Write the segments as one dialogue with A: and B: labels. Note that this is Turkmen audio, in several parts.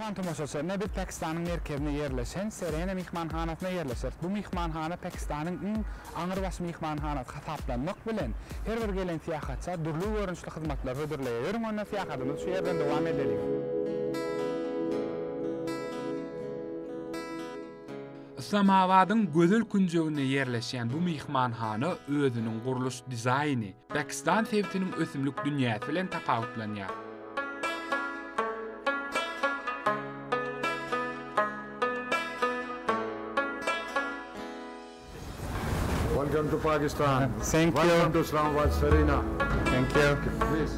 A: Myhman tomaşaçy, Ine biz Pakistanyň merkezinde ýerleşen Serena myhmanhanasynda ýerleşeris. Bu myhmanhana Pakistanyň iň aňrybaş myhmanhanasy hasaplanmak bilen, her bir gelen syýahatça dürli görnüşli hyzmatlar hödürleýär. Ýörüň onda syýahatymyzy şu ýerden dowam edeliň. Yslamabadyň gözel künjeginde ýerleşýän bu myhmanhana özüniň gurluş dizaýny, Pakistan sebitiniň ösümlik dünýäsi bilen tapawutlanýar. Welcome to Pakistan. Thank you. Welcome to Islamabad Serena. Thank you. Please.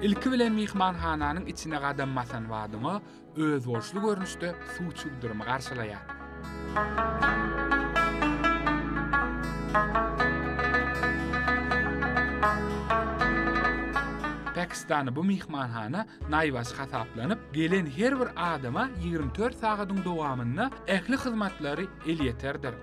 A: Ilki bilen myhmanhananyň içine gadam basan badyňa, özboluşly görnüşde suw çüwdürimi garşylaýar. Pakistanda bu myhmanhana naýbaşy hasaplanyp, gelen her bir adama ýigrimi dört sagadyň dowamynda ähli hyzmatlary elýeterdir.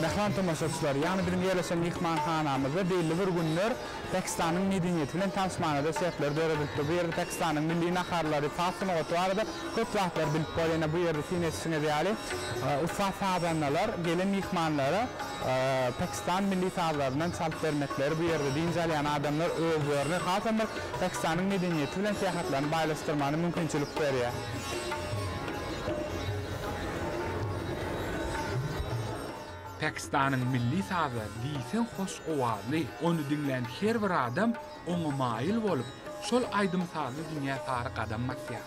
A: Mähriban tomaşaçylar, ýagny biziň ýerleşen myhmanhanamyzda belli bir günler Pakistanyň medeniýeti bilen tanyşmaga-da şertler döredilipdir. Bu ýerde Pakistanyň milli naharlary, saz sungaty barada köp zatlar bilip bol. Ýene bu ýerde syn etişiňiz ýaly, ussat sazandalar gelen myhmanlara Pakistan milli sazlaryndan çalyp bermekleri, bu ýerde dynç alýan adamlar özlerini hasam bir Pakistanyň medeniýeti bilen syýahatlaryny baýlaşdyrmagyna mümkinçilik berýär. Pakistanyň milli sazy diýseň hoş owazly, ony diňlän her bir adam oňa maýyl bolup, şol aýdym-sazly dünýä sary gadam basýar.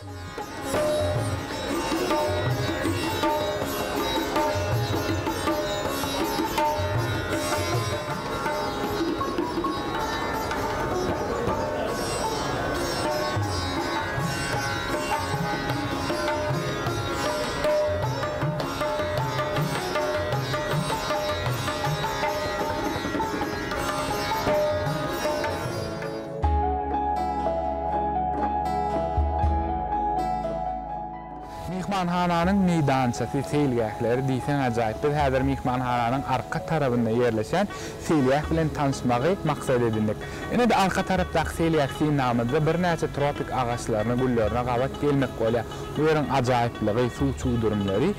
A: Myhmanhananyň meýdançasy, seýilgähleri diýseň ajaýyp. Biz häzir myhmanhananyň arka tarabynda ýerleşen seýilgäh bilen tanyşmagy maksat edindik. Ine-de arka tarapdaky selýak synlagymyzda birnäçe tropik agaçlaryna, güllerine gabat gelmek bolýar. Bu ýeriň ajaýyplygy, suw çüwdürimleri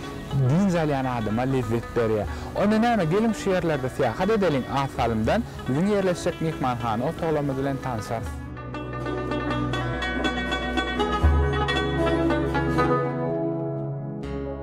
A: dynç alýan adama lezzet berýär. Onda näme, geliň şu ýerlerde syýahat edeliň, az salymdan biziň ýerleşjek myhmanhana otaglarymyz bilen tanşarys.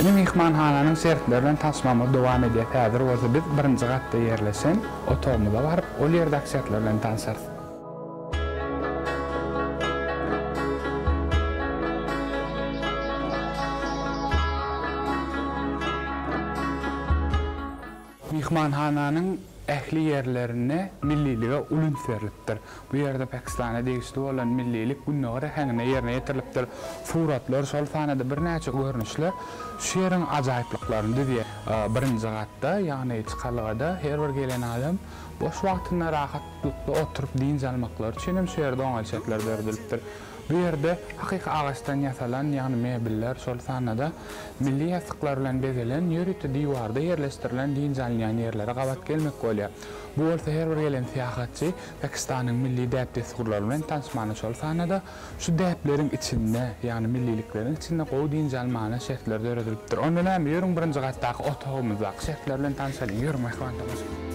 A: Indi myhmanhananyň şertleri bilen tanyşmagymyz dowam edýär. Häzir bolsa biz birinji gatda ýerleşen otagymyza baryp, ol ýerdäki şertler bilen tanşarys. Myhmanhananyň ähli ýerlerinde millilige uly üns berlipdir. Bu ýerde Pakistana degişli bolan millilik gündogar äheňinde ýerine ýetirilipdir. Suratlar, şol sanda birnäçe görnüşler şu ýeriň ajaýyplyklaryny düzýär. Birinji gatda, ýagny çykalgada her bir gelen adam boş wagtynda rahatlykda oturyp dynç almaklary üçin hem şu ýerde oňaýly şertler döredilipdir. Bu ýerde hakyky agaçdan ýasalan, ýagny mebeller, şol sanda-da milli ýassyklar bilen bezelen ýörite diwarda ýerleşdirilen dynç alynýan ýerlere gabat gelmek bolýar. Bu bolsa her bir gelen syýahatçy Pakistanyň milli däp-dessurlary bilen tanyşmana, şol sanda-da şu däpleriň içinde, ýagny millilikleriň içinde gowy dynç almana şertler döredilipdir. Onda näme, ýörüň birinji gatdaky otagymyzdaky şertler bilen tanyşalyň, ýörüň mähriban tomaşaçylar!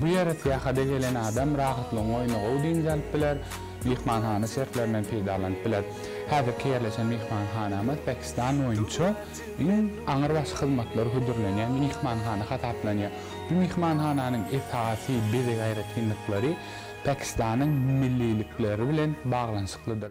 A: Bu ýere syýahata gelen adam rahatlygyň oýny gowy dynç alyp biler, myhmanhana şertlerinden peýdalanyp biler. Häzirki ýerleşen myhmanhanamyz Pakistan boýunça iň aňrybaşy hyzmatlary hödürlenýän myhmanhana hasaplanýar. Bu myhmanhananyň esasy bezeg aýratynlyklary, Pakistanyň millilikleri bilen baglanyşyklydyr.